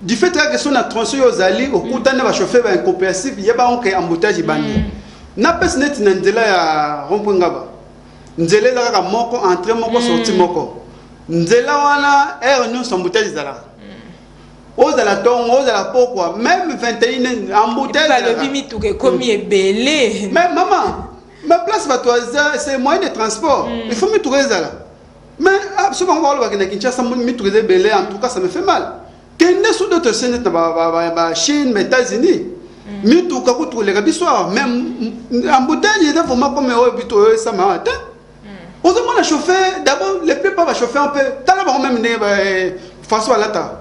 Du fait kaka so na tronçon yo ozali okutani na ba chauffeur ba incompréhensif yeba ngo ke embouteillage ebandi mm. na pesi neti na nzela ya rond-point ngaba nzela eza kaka moko entrée moko mm. sortie moko nzela wana heure nyonso embouteillage ezalaka mm. ozala tongo ozala pokwa meme 21 embouteillage mituka ekomi mm. ebele mais mama ma place bato aza c'est moyen de transport mm. il faut mituka ezala Mais ah, soki bango bakolobaka na Kinshasa mituka eza ebele en tout cas ça me fait mal kende sur d'autres chaînes na bachine ba états-unis mm. mituka kutu koleka biso awa mais embouteille eza vraiment comme oyo bito oyo esama awa te mm. ozomona chauffeur d'abord les plupart bachauffeur mpe tala bango meme ndenge façon balataka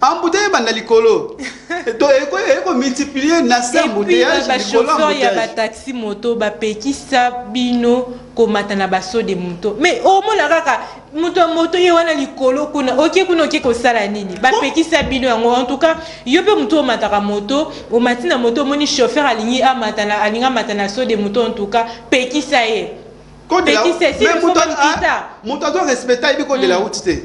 Embouteille ebanda likolo. Donc eko eko multiplier na se embouteillage ba chauffeur ya ba taxi moto ba pekisa bino komata na baso de moto. Mais omona kaka moto ya moto ye wana likolo kuna oke kuna oke kosala nini bapekisa bino yango en tout cas yo mpe moto omataka moto omati na moto omoni chauffeur alingi amata na alingi amata na so de moto en tout cas pekisa ye pekisa ye si moto azorespecta yebi kodela uti te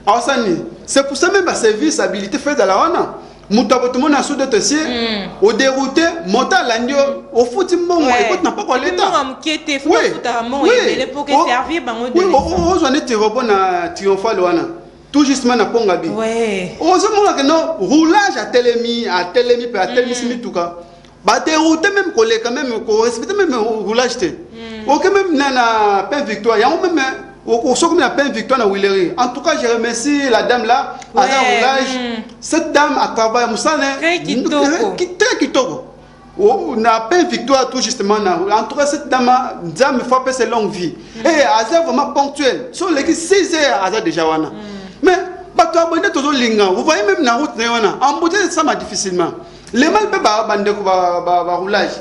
awasa nini c'est pour ça même ba service habilité fo ezala wana moto akotomona sous d'autres cieux mm. oderoute moto alandi yo ofuti mbongo ekoti na mpoko aletaozwa neti robo na triomphale wana tout justement na pongabi ozomonake no roulage atelemi atelemi mpe atelemisi mm. mituka ba dérouter même koleka même ko respecter même roulage te hmm. ok même na na pain victoire yango même soki na pain victoire na Willery en tout cas je remercie la dame là ouais. aza roulage hmm. cette dame a travaillé musala très kitoko très kitoko Oh, na pain victoire tout justement na en tout cas cette dame nzambe faut apesa longue vie mm. et eh, aza vraiment ponctuel so oleki 6 heures aza déjà wana mm. mais bato abonde tozolinga vous voyez même na route na ye wana embouteille esama difficilement le mal mpe bandeko baroulage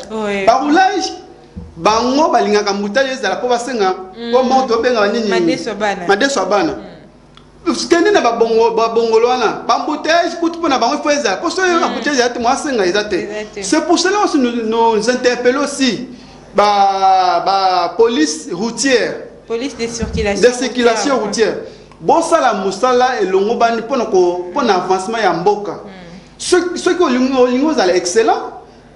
baroulage bango balingaka mbutali ezala mpo basenga mm. mpo moto obenga banini madeso ya bana mm. kende na babongolo wana bambouteillage kutu mpo na bango ifo ezala mpo soki mm. embouteillage eza te mwa asenga eza te c'est pour cela aussi nous interpelle aussi bapolice routière police de circulation, de circulation routière bosala mosala elongobani mpo na avancement ya mboka mm. soki olingi ozala excellent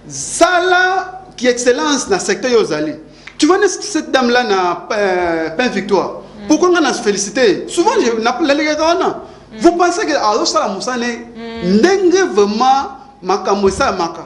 sala ki excellence na secteur yo ozali tu vois cette dame là na euh, pain victoire mm. pourquoi nga na se féliciter souvent nalalekaka wana mm. vous pensez que azosala mosala ne mm. ndenge vraiment makambo esalamaka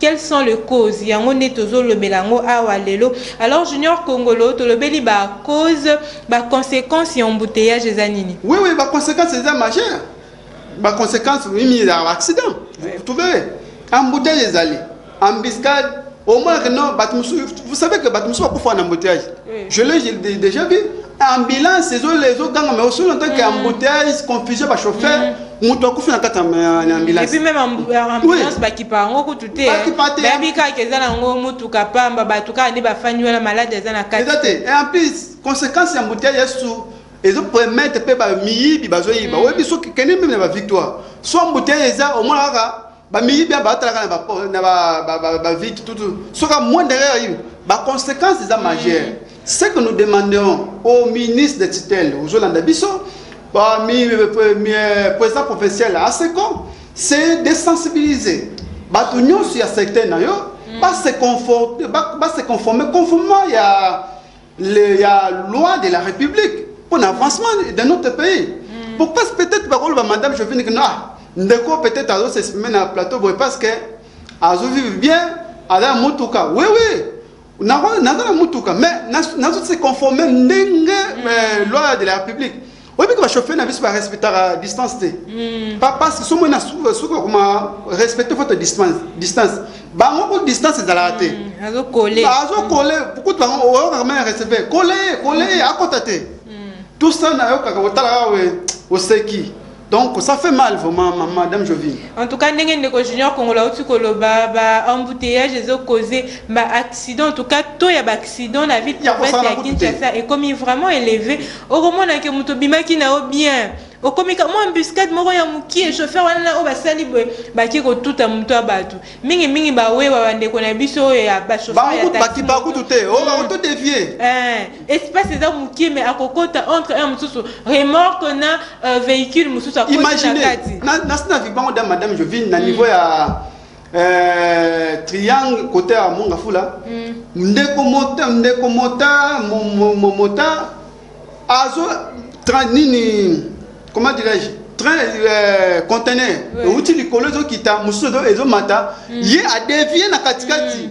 Quels sont le cause yango nde tozo lobela yango awa lelo alors junior kongolo tolobeli ba cause ba consequence ya embouteillage eza nini? Oui oui ba consequence eza majeur ba consequence mimi ya accident vous trouvez embouteillage ezali embuscade omonaka no bato mosusu vous savez que bato mosusu bakufa na embouteillage Je l'ai déjà vu. Ambulance, les autres gangs, mais aussi en tant qu'embouteillage, confusion, bah, chauffeur. moto akufi na kati ya ambulance epuis meme ambulance bakipa yango kutu te bayebi kaka eza na yango motuka pamba bato kaka nde bafandi wana malade eza na kati eza te et en plus conséquence ya mbutei ya su ezo permettre mpe bamiyibi bazoyiba oyebi soki kende meme na bavictoire so mbutei eza omona kaka Ba miyibi ba talaka na ba na ba ba ba, ba vite tout tout. Soka moins derrière yo. Ba conséquences za majeure. Mm. Ce que nous demandons au ministre de tutelle, aux Olanda Bisso, parmi le premier président provincial à Seko, c'est de sensibiliser. Bato nyonso ya secteur na yo, mm. ba se conformer, ba, ba se conformer conformément ya le ya loi de la république pour l'avancement de notre pays mm. pour parce peut-être bakoloba madame jovine que ah ndeko peut-être azo s'exprimer na plateau boye parce que azo vivre bien aza motuka oui oui naza na motuka mais nazo se conformer ndenge mm. euh, loi de la république oyebi ke bachauffeur na biso barespectaka distance te hmm. papasi somo na suka koma respecte foto distance bango ku distance ezalaka te hmm, azokole hmm. kutu bango oyokaka mai receve kole ye kole ye akota te tout ça nayokaka otalaka we oseki donc ça fait mal vraiment madame jovine en tout cas ndenge ndeko junior kongola auti koloba baembouteillage ezocause baaccident en tout cas to ya baaccident na ville province ya kinshasa ekomi vraiment élevé okomona ke moto obimaki na yo bien okomika mwa embuscade moko ya mokie chauffeur wana na oyo basali boye bake kotuta moto ya bato mingimingi bawewa bandeko na biso oyo ya bachauffeurbakutu te oyo oh, bakoto hmm. devie eh, espace eza mokie me akokota entre un mosusu remorque na euh, véhicule mosusu akoti na kati nasi na vibango da madame jovine na hmm. niveau ya Euh, triangle kote ya monga fula mm. ndeko mota ndeko mota mota azo train nini comment dirais-je train euh, conteneur euti likolo ezokita mosusu ezomata mm. ye adevie na katikati mm.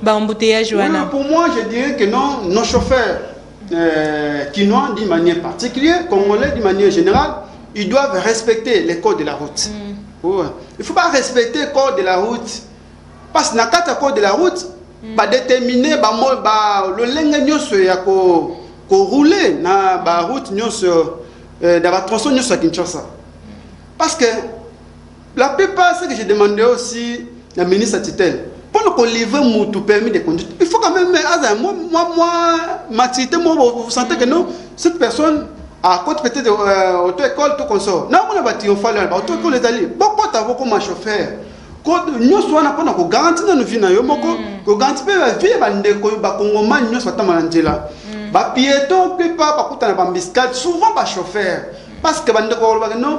ba embouteillage wana oui, pour moi je dirais que non nos chauffeurs euh, kinois d'une manière particulière congolais d'une manière générale ils doivent respecter les codes de la route mm. ouais. il faut pas respecter code de la route parce que na kati ya code de la route mm. ba déterminer ba, ba lolenge nyonso ya ko ko rouler na ba route nyonso euh, na ba tronçon nyonso ya Kinshasa parce que La plupart ce que je demande aussi na ministre tutelle pona ko livrer mutu permis de conduire il faut quand même aza moi moi moi maturité moi vous sentez que non cette personne à côté peut-être euh, auto école tout consort na mona ba triomphale ba auto école ezali bokota boko ma chauffeur nyonso wana mpona kogaranti nanu vi na yo moko mm. kogaranti mpe bavi ya bandeko bakongomani nyonso batambala na nzela mm. bapieton mpe pa bakutana bambiscale souvent bachauffeur parce que bandeko balobaka non